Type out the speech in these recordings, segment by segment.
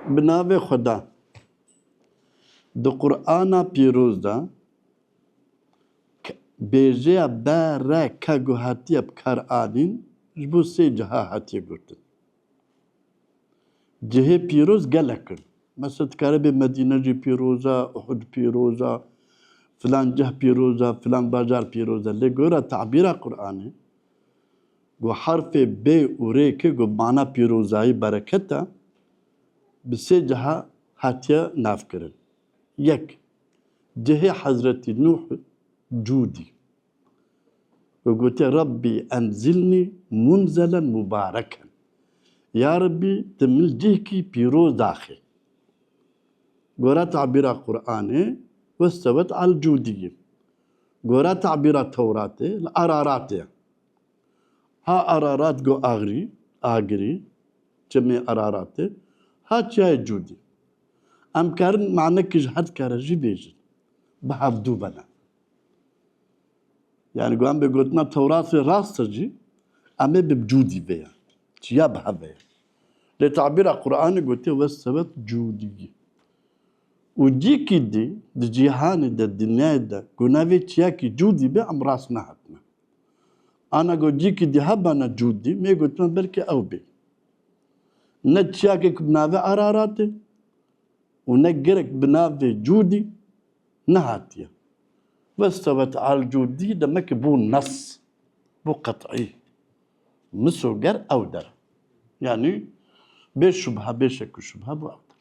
Bi navê Xweda. Di Qur'ana pîroz de bêjeya be-re-ke ku hatiye bi kar anîn ji bo sê ciha hatiye gotin. Cihê pîroz gelek in. Mesela dikare bê Medîne jî pîroz e, Uhud pîroz e, filan cih pîroz e, filan bajar pîroz e. Lê gora tabîra Qur'anê, Ku harfê bê û rê ki ku mana pîrozayî, bereket e, bi sê ciha hatiye navkirin. Yek, cihê Hezretî Nuh cûdî ku gotiye Rabbî enzilnî munzelen mubareken, Ya Rabbî ti min li cihkî pîroz daxî. Gora tabîra Quranê, westewet al cûdî ye. Gora tabîra Tewratê, li Araratê ye. Ha Ararat go Agrî, Agirî, çimê Araratê, ha çiyayê Cûdî. Em karin manekê ji her di kere jî bêjin. Bi hevdû be ne. Yani go em bê gotina Tewratê rast e jî em ê bi Cûdî vê ye. Çiya bi hev ve ye. Lê tabîra Quranê gotê westewet Cûdî. Û cîkî dî di cîhanê de, dinyayê de ku navê çiyakî Cûdî be em rast nehatine. Ana ku cîkî dî hebana Cûdî mê gotime belkî ew bê. Ne çiyakek bi navê Araratê û ne gerek bi navê Cûdî nehatiye. Westewet Alcûdî demekê bû nas, bû qet'î. Misoger ew der e. Yanî bê şubhe, bê şek û şubhe bû ew der.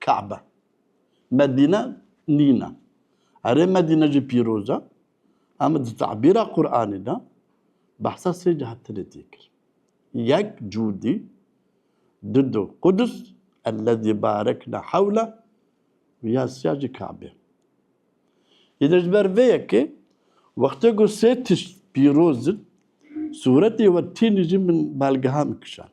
Ka'be, Medîne nîn e. Herê Medîne jî pîroz e. Em di tebîra Qur'anê de behsa sê cihetinê tê kir. Yek Cûdî, du do Qudus, Ellezî barekna hewle û ya siya jî Ka'be. Îde ji ber vê yekê wextê ku sê tişt pîroz in sûretê we tînî jî min belgehan kişand.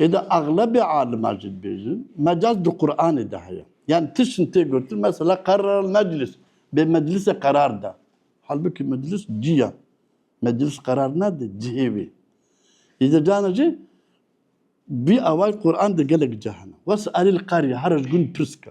Ê de exlebê aliman jî dibêjin mecaz di Quranê de heye. Yan tiştên tê gotin mesela qerral meclis bê meclisê qerar da. Halbukî meclis cî ya. Meclis qerar nade cihê wê. Ê de cana jî bî awayî Quran de gelek cehna. Wes erî li qerî here ji gund pirs ke.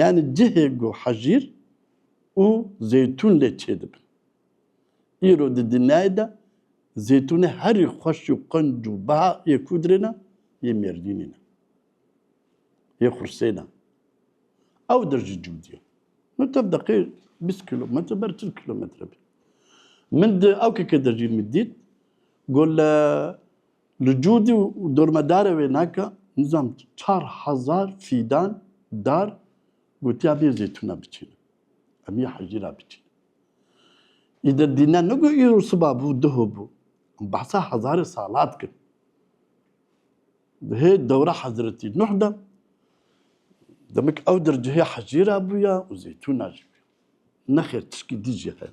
Yanî cihê ku hejîr û zeytûn lê çêdibin. Îro di dinyayê de zeytûnê herî xweş û qenc û beha yê ku dirê ne, yê mêrdînê ne. Yê xursê ne. Ew dir jî cûdî ye. Min tev deqê bîst kîlometre ber çil kîlometre bî. Min di awkekê de jî min dît ku li Li Cûdî û dormedarê wê naka nizam çar hezar fîdan dar gotiya bê zeytûna biçînin. Em yê hejîra biçînin. Îde dîne nigo îro siba bû diho bû. Em behsa hezarê sala dikin. Di hê dewra Hezretî Nuh de demik ew dir cihê hejîra bûya û zeytûna jî. Nexêr tişkî dî jî heye.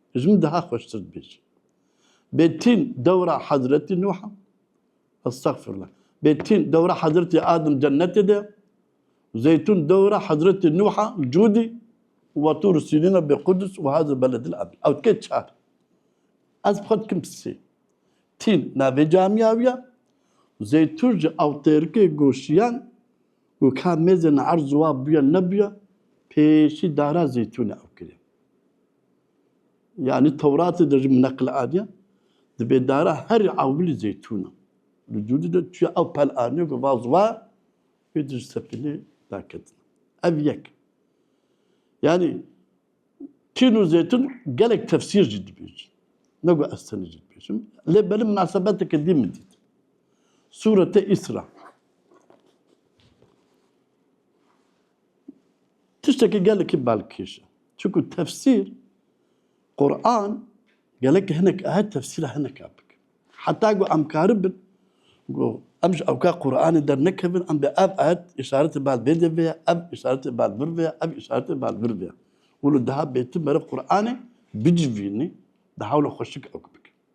Ji min daha xweştir dibêjî. Bê tîn dewra Hezretî Nuh a. Estexfirullah. Bê tîn dewra Hezretî Adim cennetê de ya. Zeytûn dewra Hezretî Nuh a Cûdî û wa Tûr Sînîn a bê Qudus û Hazil Beledil Amin. Ew tike çar. Ez bi xwe dikim sê. Tîn navê camîya wî ya. Zeytûn ji ewtêrikê goşiyan û ka mêzên erz û wa bûye nebûye pêşî dara Zeytûnê ew kiriye. Yani Tewratê de ji min neqil aniye dibê dara herî ewilî zeytûn e. Li dûrî de çiya ew pel aniye ku vaz wa wê di ji sefînê daketin. Ev yek. Yani tîn û zeytûn gelek tefsîr jî dibêjin. Ne ku ez tenê jî dibêjim. Lê belê minasebeteke dî min dît. Sûrete Îsra. Tiştekî gelekî balkêş e. Çunku tefsîr, Quran gelek hinek aye tefsîra hineka bikin. Heta ku em karibin ku em ji ewka Quranê dernekevin em dê ev ayet îşaretê bal vê dê vê ye, ev îşaretê bal vir vê ye, ev îşaretê bal vir vê ye û li daha bêtin meriv Quranê bicivînî di hewla xweşik ewk bikin.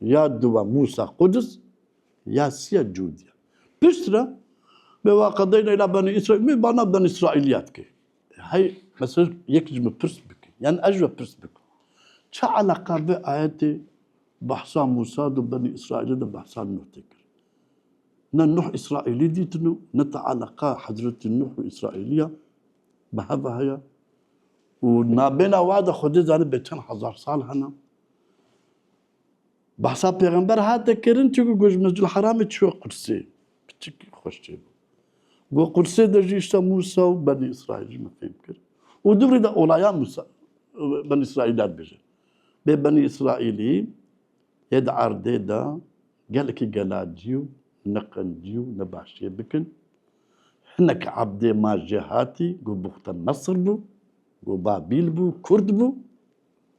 Ya duwa Musa Kuduz ya siya Cudiya. Pişt re me wa qedeyna ila Benî Îsraîl me bana Benî Îsraîlîya dike. Hey mesela yek ji min pirs bike. Yani ez ji we pirs bikim. Çi eleqa vê ayetê behsa Musa do Benî Îsraîlê de behsa Nuh tê kir. Ne Nuh Îsraîlî dîtin û ne te eleqa Hezretî Nuh û Îsraîlîya bi heve heye. Û nabêna wa de Xwedê zanî bê çend hezar sal hene. Behsa pêxember hate kirin çi ku got ji Mescîdulheramê çûye Qudsê. Piçikî xweş çêbû. Got Qudsê de jî îşta Mûsa û Benî Îsraîl jî min fêm kir. Û di vir de olaya Mûsa Benî Îsraîlî ya dibêje. Bê Benî Îsraîlî yê di erdê de gelekî gelacî û neqencî û nebaşiyê bikin. Hinek ebdê ma jê hatî got bûxte Mesir bû, got Babîl bû, Kurd bû.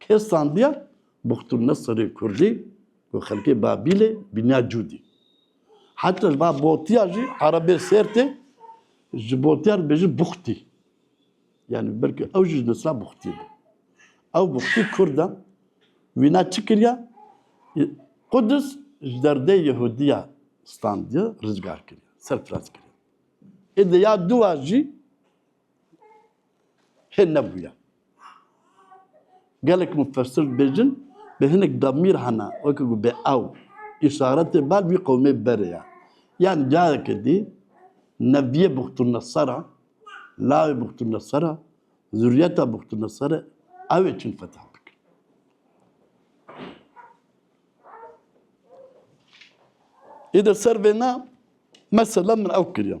Kê standiya Buxtun Neserê Kurdî ku xelkê Babîlê bîniya Cûdî. Heta va botiya jî erebê Sêrtê ji botiya re bêjin Buxtî. Yani belki ew jî ji nesra Buxtî be. Ew Buxtî Kurd e. Wîna çi kiriya? Qudis ji derdê Yehudiya standiye rizgar kiriya, serfiraz kiriya. Ê de ya duwa jî Hê nebûye. Gelek mufessir dibêjin bi hinek demîr hene weke ku bê ew îşaretê ber vî qewmê berê ye. Yan careke dî neviyê Buxtunesera, lawê Buxtunesera, zuriyeta Buxtunesera ew ê çin fetih bikin. Îdir ser vêne mesela min ew kiriye.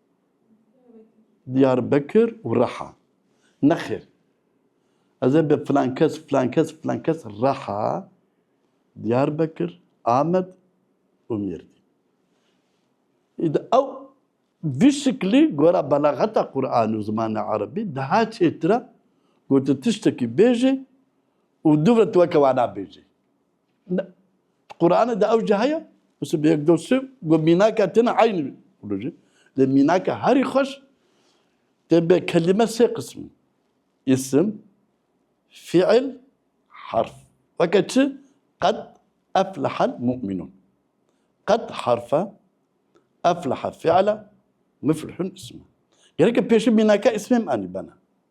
Diyarbekir û Reha. Nexêr. Ez ê bi filankes, filankes, filankes Reha, Diyarbekir, Amed û Mêrdîn. Îdi ew vî şiklî gora belaxeta Qur'anê û zimanê erebî daha çêtir e ku tu tiştekî bêjî û dû ve tu weke wan nabêjî. Qur'anê de ew jî heye. Wisa bi yek dost got mînaka têne eyn wî. Wilo jî lê mînaka herî xweş tê bê kelîme sê qism in. Îsim, fîil, harf. Weke çi? Qed eflehel mu'minûn. Qed harf e, eflehe fîil e, muflihûn îsim e. Gerek e pêşî mînaka îsmê em anî bene.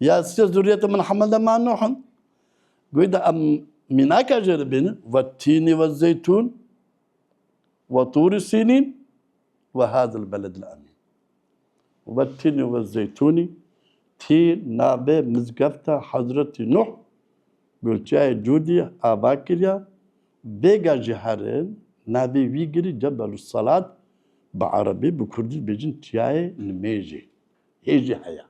Ya siz zurriyetê min Hamelde ma Nuh in. Goy da em mînaka jê li bînin ve tînî ve zeytûn ve tûrî sînîn ve hadil beledil emîn. Ve tînî ve zeytûnî tî nabê mizgefta Hezretî Nuh gulçeyê Cûdî ava kiriya bêga ji herin navê wî girî Cebelû Selat bi erebî bi kurdî dibêjin Çiyayê Nimêjê. hê jî heye.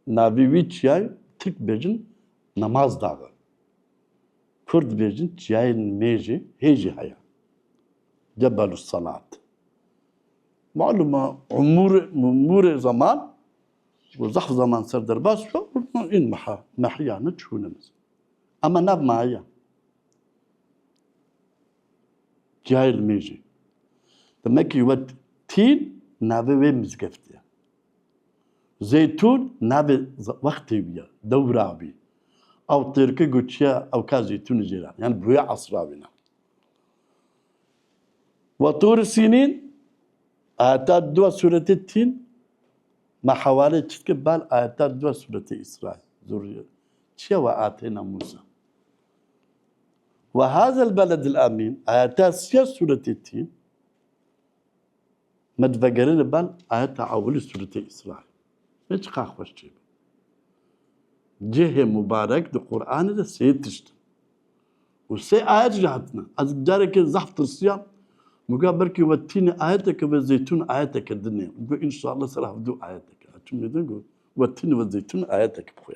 Navê wî çiyayê tirk dibêjin Namaz Dağı. Kurd dibêjin çiyayên mêjê hê jî heye. Cebelû Senat. Malum e umûrê mûrê zeman û zehf zeman ser derbas bibe în meha mehiyane çûne mezin. Ema nav ma heye. Cihayê li mêjê. Demekî wet Tîn navê wê mizgeftê ye. Zeytûn navê wextê wî ye, dewra wî. Ew têrki goçiya ew ka zeytûnê jê re. Yani bi wê esra wî ne. Wa Tûr-i Sînîn ayeta dua sûretê Tîn me hewalê çi dike bal ayeta dua sûretê Îsra ye. Zurriye. Çiye we ateyna Mûsa. Ve hazal beledil amîn ayeta siya sûretê tî me divegerine bal ayeta ewilî sûretê Îsra. Nê çiqar xweş çê bû. Cihê mubarek di Quranê de sê tişt in. Û sê ayet jî hatine. Ez careke zehf tirsiyam min got belkî we tînê ayeteke ve zeytûn ayeteke din ê. Min got înşallah ser hevdû ayeteke. Çûm mêdin got we tînê ve zeytûn ayeteke bixwe.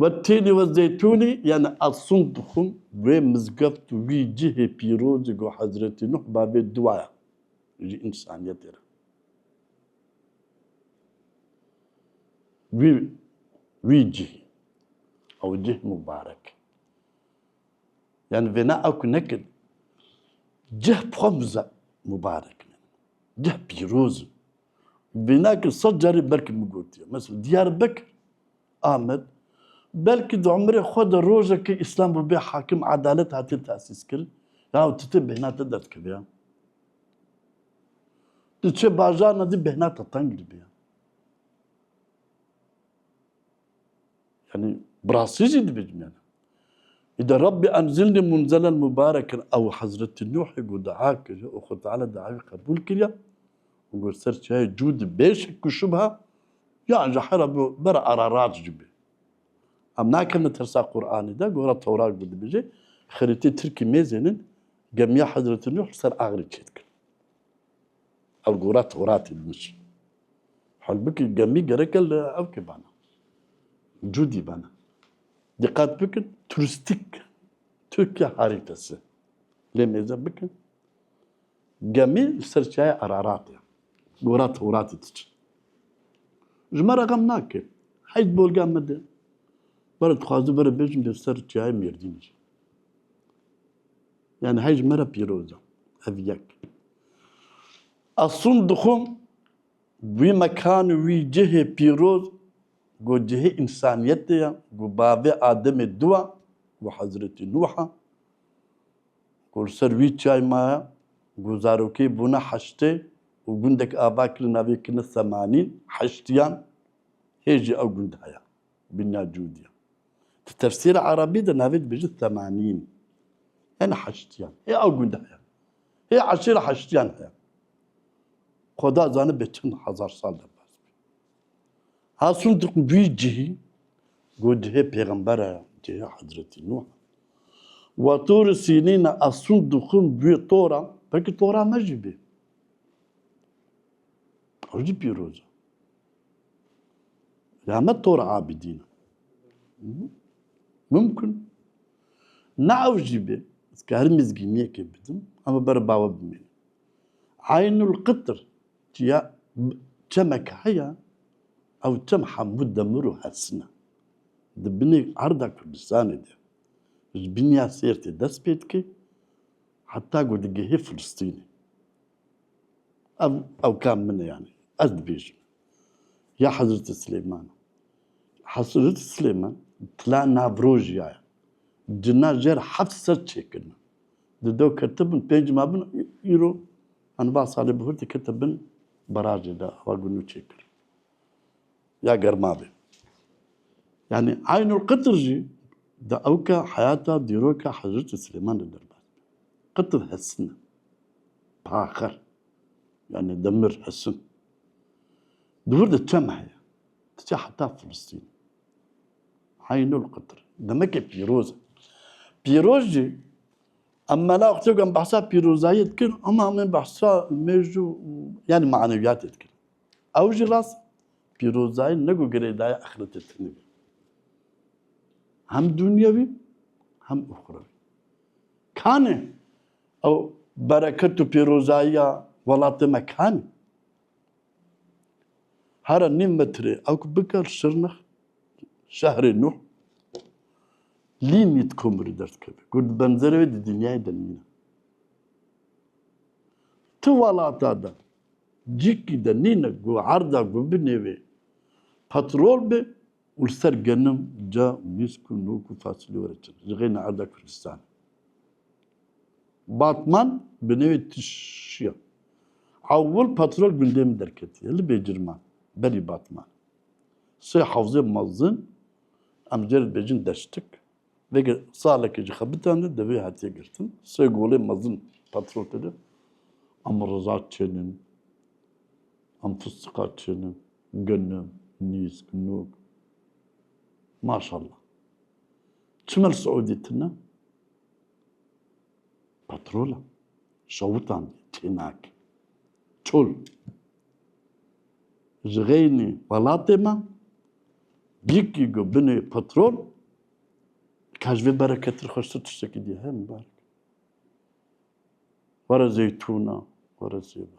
Ve tênî we zeytûnî yanî asûn dixwim wê mizgeft û wî cihê pîrozî ku Hezretî Nuh bavê duaya ji însaniyetê re. Wî wî cihê ew cih mubarek e. Yanî vêna ew ku nekirî cih bi xwe mubarek in. Cih pîroz in. Vênakir sed carî belkî min gotiye. Mesela Diyarbekir, Amed, belkî di umrê xwe de rojekê Îslam bûbê hakim, edalet hatiye tesîskirin, yaw tu tê bêhna te derdikeve ya. Tu çê bajarna dî bêhna te teng dibe ya. Yani birasî jî dibicmene. Îde Rabbî enzilnî munzelen mubarekin ew Hezretî Nuhî got dua kir û xwe Teala duayê qebûl kiriye û got ser çiyayê cû di bêşik ku şubha ya ji hera bi bera Ararat jî bê. Em nakevne tersa Qur'anê de gora Tewrat bi dibêje xerîtê tirkî mêzênin gemiya Hezretî Nuh li ser axirê çêdikin. Ev gora Toratê min jî. Halbikî gemî gereke li evkê bana. Cûdî bana. Diqet bikin turistîk Tirkiye harîte se. Lê mêze bikin gemî li ser çiyaya Araratê ye. Gora Toratê diçin. Ji me re xem nake. Heyt bolga min de. Were dixwazim were bêjim li ser çiyaya Mêrdînê jî. Yani hej me re pîroz e. Ev yek. Asûn dixwim wî mekan û wî cihê pîroz ku cihê însaniyetê ye, ku bavê Ademê du e û Hezretî Nûh e, ku li ser wî çiyayê maye, ku zarokê bûne heştê û gundek ava kirine navê kirine Semanîn, Heştiyan, hê jî ew gund heye. Bîna Cûdî. Di tefsîra erebî de navê dibêjin Semanîn. Hene heştiyan. Hê ew gund heye. Hê eşîra heştiyan heye. Xuda zane bê çend hezar sal de bas bî. Hasûn di wî cihî got di hê pêxembere cihê Hezretî Nûh wa Tur Sînîn e asûn dixwin bûyê tora belkî tora me jî bê. Ew jî pîroz e. Ya me tor abîdîn mimkun ne ew jî bê ez ker mizgîniyekê bidim hema ber bawe bimînim. Eynul qitir çiya çemek heye ew çem hemû demir û hesine. Di binê arda Kurdistanê de ji biniya Sêrtê dest pê dike heta ku digihê Filistînê. Ev ewka min e yanî ez dibêjim ya Hezreti Silêman e. Hezreti Silêman tila navrojîya ye. Cina jer heft sed çêkirine. Di do ketibin pênc ma bin îro hani ba salê bihur dikete bin barajê de awa gund û çêkir. Ya germavê. Yani Aynul Qitr jî di ewka heyata dîroka Hezreti Silêman de derbas. Qitr hesine. Taxir yani demir hesin. Dûr de çem heye. Diçe heta Filistîn. Heynul Qıtır. Demek ki pîroz. Pîroz jî em mela xçekan behsa pîrozayê dikin ama em behsa mêjû yani maneviyatê dikin. Ew jî rast pîrozayê ne ku girêdaya axiretê tine be. Hem dunyewî hem uxrewî. Kane Ew bereket û pîrozayiya welatê me kan e. Here nîv metrê ew ku biker Şirnex, şehrê nû, lîmît komirî derdikeve. Ku di benzerê wê di dinyayê de nîne. Ti welata de, cîkî de nîne ku erda ku binê wê petrol bê û li ser genim ca mîsk û nok û fasulye were çin ji xêna erda Kurdistanê. Batman bi nêwê Tişiya Ewil Patrol gundê min derketiye li Bêcirman berî Batman. Sê hewzê mezin em jê re dibêjin deştik. Veke salekê ji xebitan de devê hatiye girtin. Sê golê mezin patrol tede em riza çênin. Em fistîqa çênin, ginin, nîsk, nûk. Maşallah. Çima li Siûdî tune? Petrol e. Şawitan diye tênak. Çol. Ji xeynî welatê me yekî ku binê petrol ka ji vê bereketir xweştir tiştekî diye heye mibarek. Were zeytûna, were sêva.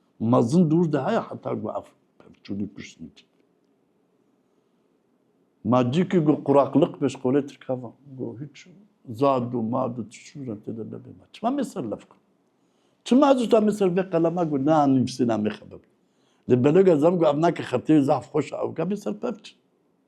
Mezin dûr de heye heta ku ev pevçûnî kuştî dît. Ma cî ki ku quraqliq pêş qolê tirka va ku hiç zad û mad û tişûran tê de nebê ma çima mê ser levka? Çima ez usta mê ser vê qelema ku na nivîsîna mê xebib. Lê beloga zam ku ev nake xetê zaf xweş a ewka mê ser pevçin.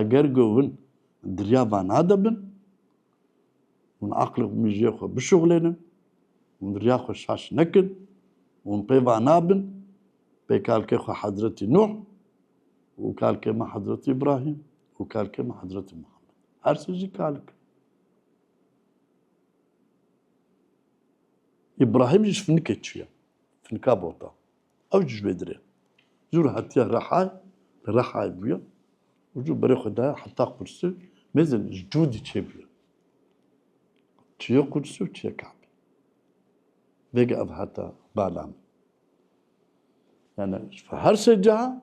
Eger ku hûn diriya van nadibin, hûn aqlê û mijiyê xwe bişuxlênin, hûn diriya xwe şaş nekin, hûn pê van nabin, pê kalkê xwe Hezretî Nuh û kalkê me Hezretî Îbrahîm û kalkê me Hezretî Muhammed. Her sê jî kalik in. Îbrahîm jî ji finikê çûye, finika bota. Ew ji vê dirê zûr hatiye Rihayê, li Rihayê bûye û ji berê xwe daye heta Qûrsî, mêzin ji du dîçê bûye. Çiye Qûrsî û çiye Kabê. Vêga ev hate bala min. Yani ji her sê ciha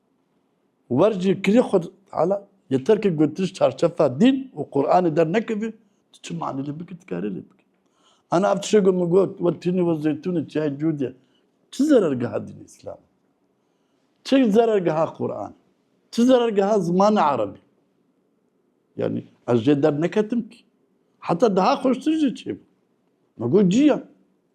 Wer jî kirî xwe Teala yê terkê gotin ji çarçefa dîn û Quranê dernekevî, tu çi manî lê bikî dikarî lê bikî. Ana ev tişê ku min got we tînî we zeytûnê çiyayê cûdê çi zerergeha dînê îslamê? Çi zerergeha Quranê? Çi zerergeha zimanê erebî? Yanî ez jê derneketim kî. Heta daha xweştir jî çêbû. Min got cî ya.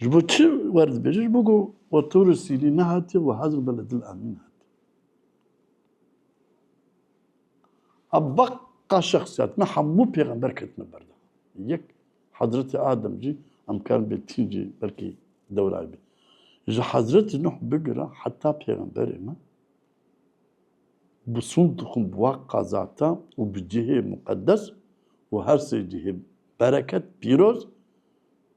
Ji bo çi werdibêje? Ji bo ku we tu li Sîrî nehatiye we hezir be li dil Amîn hatiye. A beqa şexsiyat me hemû pêxember ketine ber de. Yek Hezretê Adem jî em karin bê tîn jî belkî dewrayê bê. Ji Hezretê Nuh bigire heta pêxemberê me bi sûn dixwin bi wa qezata û bi cihê muqedes û her sê cihê bereket, pîroz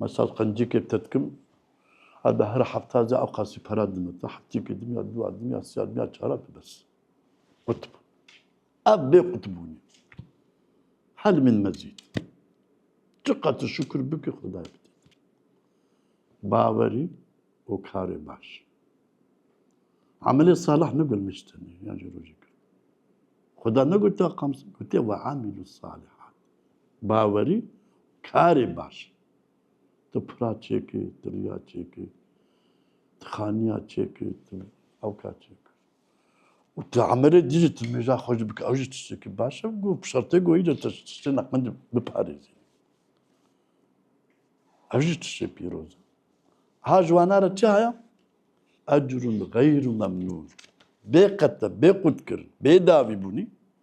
Mesal qencikê te dikim, her bi her hefta ze ew qasî pere dime te, hefteyekê dim ya dûa dim ya siya dim ya çara tu bes. Qutb. Ev bê qutbûnê. Hel min mezît. Çi qat tu şukir bikî Xwedayê bidît. Bawerî û karê baş. Amelê salih negulmiş tenê yan jî rojê kir. Xweda negotiya qamsin, gotiye ve amîlu salihat. Bawerî karê baş e. Tu pira çêkir, tu riya çêkir, tu xaniya çêkir, tu ewka çêkir. Û tu emirê dî jî tu mêja xwe jî bike ew jî tiştekî baş e. Goh bi şertê gohî de tu ji tiştê neqendî biparêzî. Ev jî tiştê pîroz e. Ha ji wana re çi heye? Ecrun xeyrû memnûn. Bêqete, bêqûtkirin, bêdavîbûnî.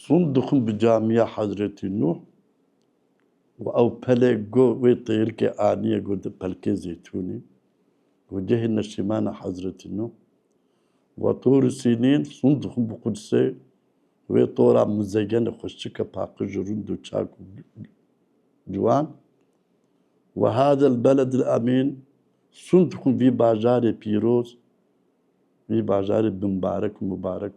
Sûn dixwin bi camiya Hezretî Nuh û ew pelê ku wê têrikê aniye ku di Pelkê Zeytûnê ku cihê neşîmana Hezretî Nuh wa Tûrî Sînîn sûn dixwin bi Qudsê wê tora mizegenê xweşike paqij û rûnd û çak û ciwan Wa hadel beledil emîn sûn dixwin vî bajarê pîroz vî bajarê bimbarek û mibarek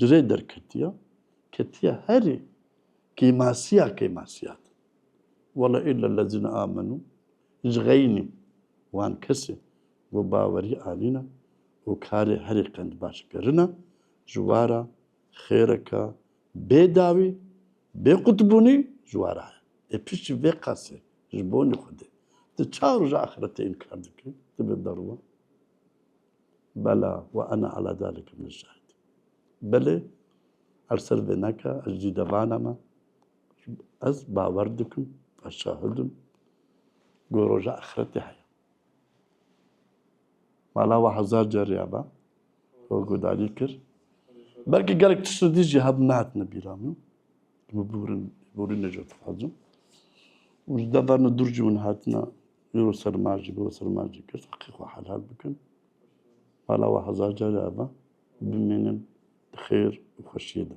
Girê derketiya ketiya herê kêmasiya kêmasiya de. Wala illa lezîne amenû ji xeynî wan kesê ku bawerî anîne û karê herê qendbaş kirine ji wara xêreke bê dawî bê qutbûnî ji wara heye. Ê piştî vê qasê ji bonî xwedê tu ça roja axretê înkar dikî? Tu bê derwan Bela we ene ala zalike min şahid e. Belê her ser vê neke ez jî devana me ez bawer dikim ez şahid im ku roja axretê heye. Mala we hezar carî ya be we guhdarî kir. Belkî gelek tişt li dijî hebin nehatine bîra min. Min bûrin, bûrin ne jî dixwazim. Û ji deverna dûr jî min hatina îro ser ma jî, biro ser ma jî kir. Heqê xwe helal bikin. Mala we hezar carî ava. Bimînin bi xêr û xweşiyê de.